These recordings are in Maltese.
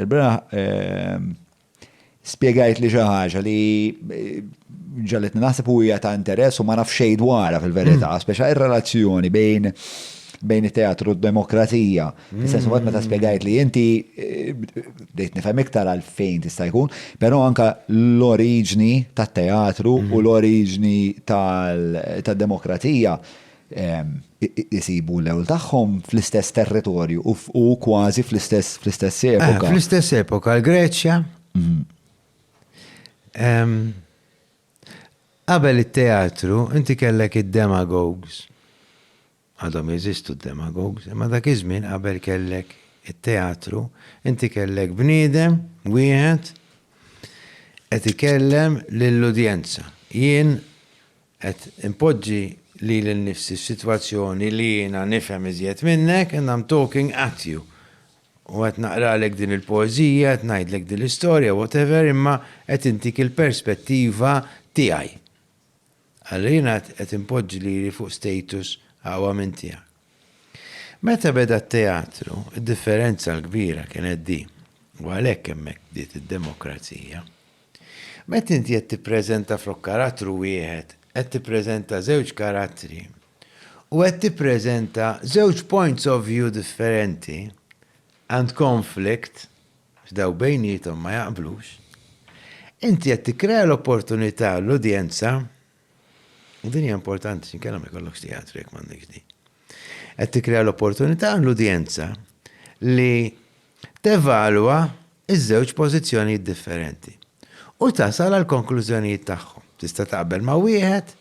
Il-beraħ spiegajt li xi ħaġa li ġaletni naħseb u hija ta' interess u ma naf xejn dwarha fil-verità, mm. speċa ir-relazzjoni bejn bejn it-teatru u d-demokrazija. Fis-sens mm. meta spiegajt li inti eh, bdejt nifhem iktar għal fejn tista' jkun, però anka l-oriġni tat-teatru u mm. l-oriġni tad-demokrazija isibu l-għewl tagħhom fl-istess territorju u kważi fl-istess epoka. Fl-istess epoka, l-Greċja. Qabel it-teatru, inti kellek id-demagogs. Għadhom jeżistu d-demagogs, imma dak iż-żmien qabel kellek it-teatru, inti kellek bniedem wieħed qed ikellem lill-udjenza. Jien Qed inpoġġi lili nnifsi f'sitwazzjoni li jiena nifhem iżjed minnek and I'm talking at you. U qed naqralek din il-poeżija, qed ngħidlek din l-istorja, whatever, imma qed intik il-perspettiva tiegħi. Allura jiena qed inpoġġi lili fuq status aqwa minn tiegħek. Meta beda t-teatru, id-differenza l-kbira kienet di, u għalhekk hemmhekk bdiet id-demokrazija. Meta inti qed tippreżenta flok karattru wieħed, qed tippreżenta żewġ karattri u qed tippreżenta żewġ points of view differenti and conflict għax dawn bejniethom ma jaqblux, inti qed tikkrea l-opportunità għall-udjenza Din hija importanti x'inkella ma jkollokx teatru jekk m'għandekx din. Qed tikkrea l-opportunità l-udjenza li tevalwa iż-żewġ pożizzjonijiet differenti u tasal għal konklużjonijiet tagħhom. Tista' taqbel ma' wieħed,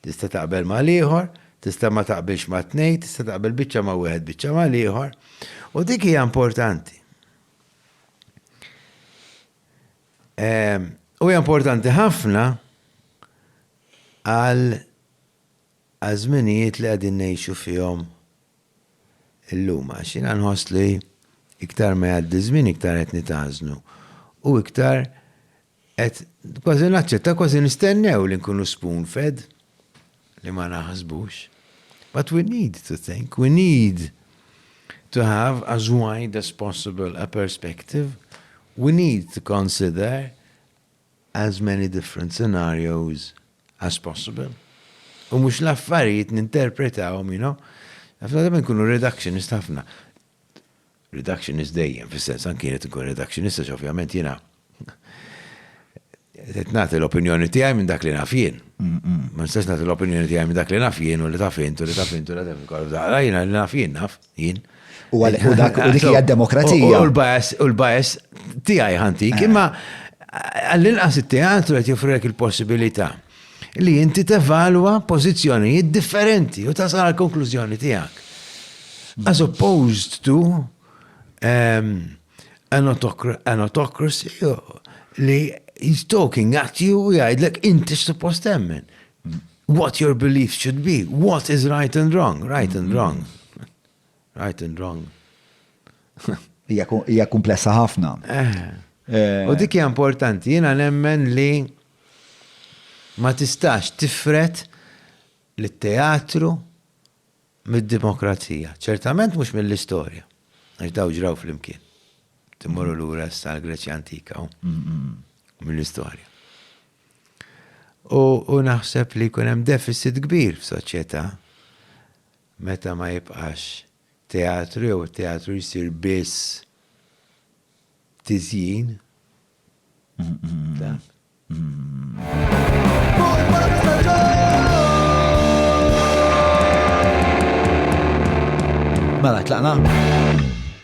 tista' taqbel ma' l-ieħor, tista' ma taqbilx ma' tnej, tista' taqbel biċċa ma' wieħed biċċa ma' l-ieħor. U dik hija importanti. U hija importanti ħafna għal żminijiet li qegħdin ngħixu fihom illum għax jiena nħoss li iktar ma jgħaddi żmien iktar qed nitażnu u iktar qed kważi naċċetta kważi nistennew li nkunu spoon fed. li ma naħsbux. But we need to think, we need to have as wide as possible a perspective, we need to consider as many different scenarios as possible. U mhux l-affarijiet ninterpretawhom, you know. Ħafna darba nkunu reductionist ħafna. reductionist dejjem, fis-sens anki jien qed inkun reductionist għax ovvjament jiena qed nagħti l-opinjoni tiegħi minn dak li naf jien. Ma nistax nagħti l-opinjoni tiegħi minn dak li naf jien u li taf int u li taf int u li taf ikollok daqra jiena li naf jien naf jien. U għalhekk u dak u dik hija demokrazija. U l-bias u l-bias tiegħi ħantik imma għall-inqas it-teatru qed joffrilek il-possibilità. li inti tevalwa pożizzjonijiet differenti u tasal għal konklużjoni tiegħek. As opposed to um, an autocracy li he's talking at you u jgħidlek inti suppost temmen. What your beliefs should be, what is right and wrong, right and wrong. Right and wrong. Hija kumplessa ħafna. Eh. Eh. U dik hija importanti, jiena nemmen li ma tistax tifret li teatru mid-demokrazija. Ċertament mhux mill-istorja. Għax daw ġraw fl-imkien. Timmorru l-ura sa' Greċja antika u mill-istorja. U naħseb li kunem deficit kbir f'soċjetà meta ma jibqax teatru jew it-teatru jsir biss tiżjin ta' Mela tlaqna?